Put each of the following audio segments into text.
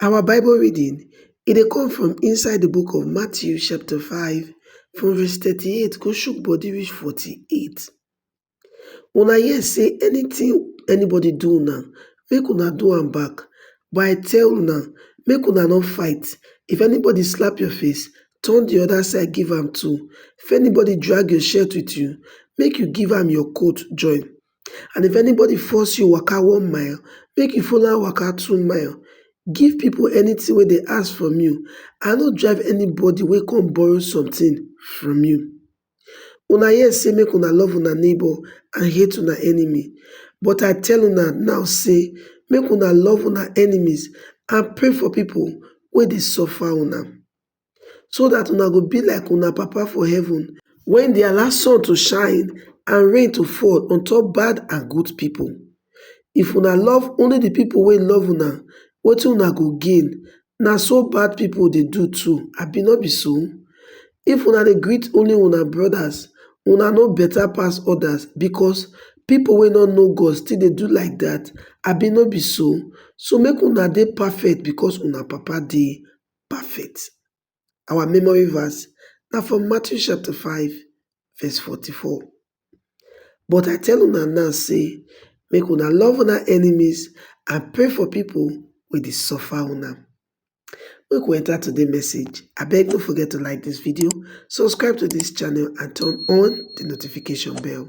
Our bible reading e dey come from inside di book of Matthew chapter five from verse thirty eight go shook body reach forty eight. Una hear sey anytin anybody do una make una do am back but I tell una make una no fight if anybody slap your face turn di oda side give am too if anybody drag your shirt wit you make you give am your coat join. and if anybody force you waka one mile make you follow am waka two mile give people anything wey dem ask from you i no drive anybody wey come borrow something from you una hear say make una love una neighbor and hate una enemy but i tell una now say make una love una enemies and pray for people wey dey suffer una. so dat una go be like una Papa for heaven wey dey allow sun to shine and rain to fall on top bad and good pipo. If una love only di pipo wey love una, wetin una go gain? Na so bad pipo dey do too, abi no be so? If una dey greet only una brodas, una no beta pass odas becos pipo wey no know God still dey do like dat, abi no be so? So make una dey perfect becos una Papa dey perfect. Our memory verse na from Matthew chapter 5 verse 44. But I tell una now say make una love una enemies and pray for people wey dey suffer una. Make we enter today message. Abeg no forget to like this video, subscribe to this channel and turn on the notification bell.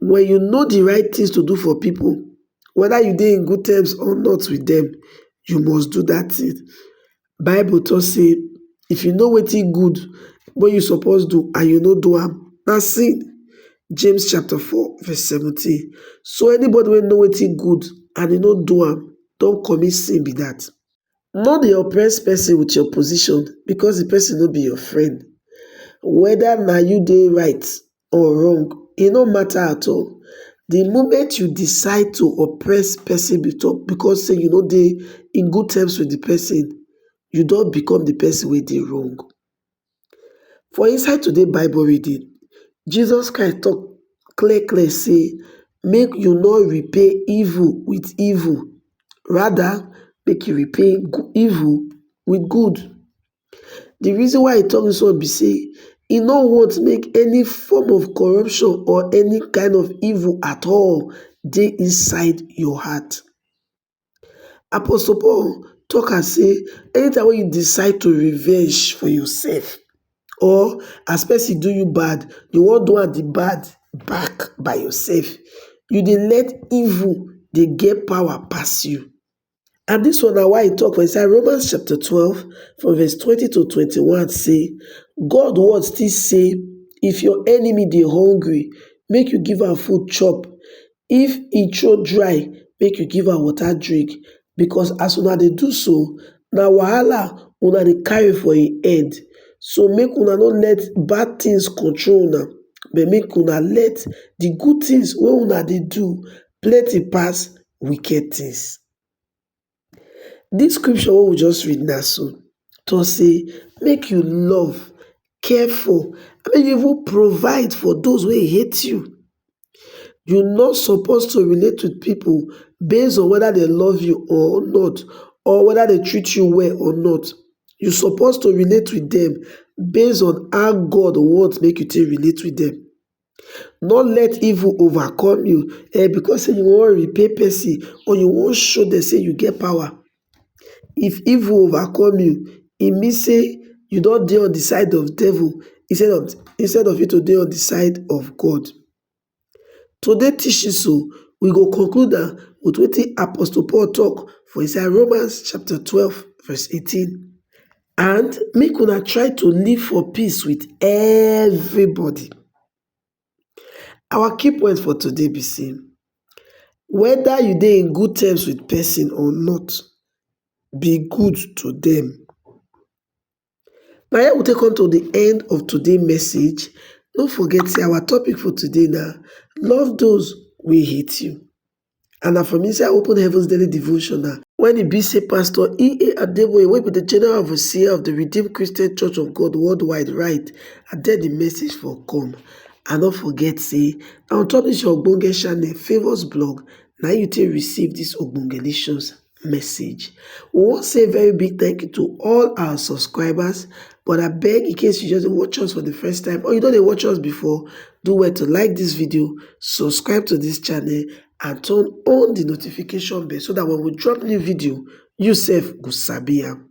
When you know the right things to do for people, whether you dey in good terms or not with them, you must do that thing. Bible talk say, if you know wetin good wey you suppose do and you no do am, na sin. James chapter 4 verse 17. So anybody wey know wetin good and e no do am don commit sin be that. No dey oppress person with your position because the person no be your friend. Whether na you dey right or wrong e no mata at all di moment you decide to oppress pesin becos say you no dey in good terms wit di pesin you don become di pesin wey dey wrong. For inside today bible reading, Jesus Christ tok clear clear say make you no repay evil wit evil, rather make you repay evil wit good. di reason why e tok dis one be say e no want make any form of corruption or any kain of evil at all dey inside your heart. Apostle Paul tok am say anytime wey you decide to revenge for yourself or as pesin do you bad, you wan do am di bad back by yourself, you dey let evil dey get power pass you. And dis one na why e tok for inside Romans chapter twelve from verse twenty to twenty-one say, God word still say, If your enemy dey hungry, make you give am food chop. If e throat dry, make you give am water drink. Because as una dey do so, na wahala una dey carry for im head. So make una no let bad things control una, but make una let the good things wey una dey do plenty pass wicked things. Dis scripture wey we just read now so talk say make you love, care for, make you even provide for those wey hate you. You no suppose to relate with people based on whether they love you or not or whether they treat you well or not. You suppose to relate with them based on how God want make you take relate with them. No let evil overcome you eh, because say you wan repay person or you wan show dem say you get power. If evil overcome you, e mean say you don dey on the side of devil instead of instead of you to dey on the side of God. Today teaching so, we go conclude am with wetin Apostle Paul talk for inside Romans chapter twelve verse eighteen. and make una try to live for peace with everybody. Our key point for today be sey whether you dey in good terms with person or not, be good to dem. Na here we take come to the end of today message, no forget sey our topic for today na love those wey hate you. And na from inside Open Heavens Daily Devotional. When e be say Pastor E.A. Adeboye wey be the General Overseer of the Redeemed Christian Church of God worldwide write and then the message for come. And don't forget say na on top this your ogbonge channel Favours blog na you take receive this ogbonge lessons. message. We wan say a very big thank you to all our subscribers but abeg in case you just dey watch us for the first time or you don dey watch us before, do well to like this video, subscribe to this channel and turn on the notification bell so that when we drop new video, you sef go sabi am.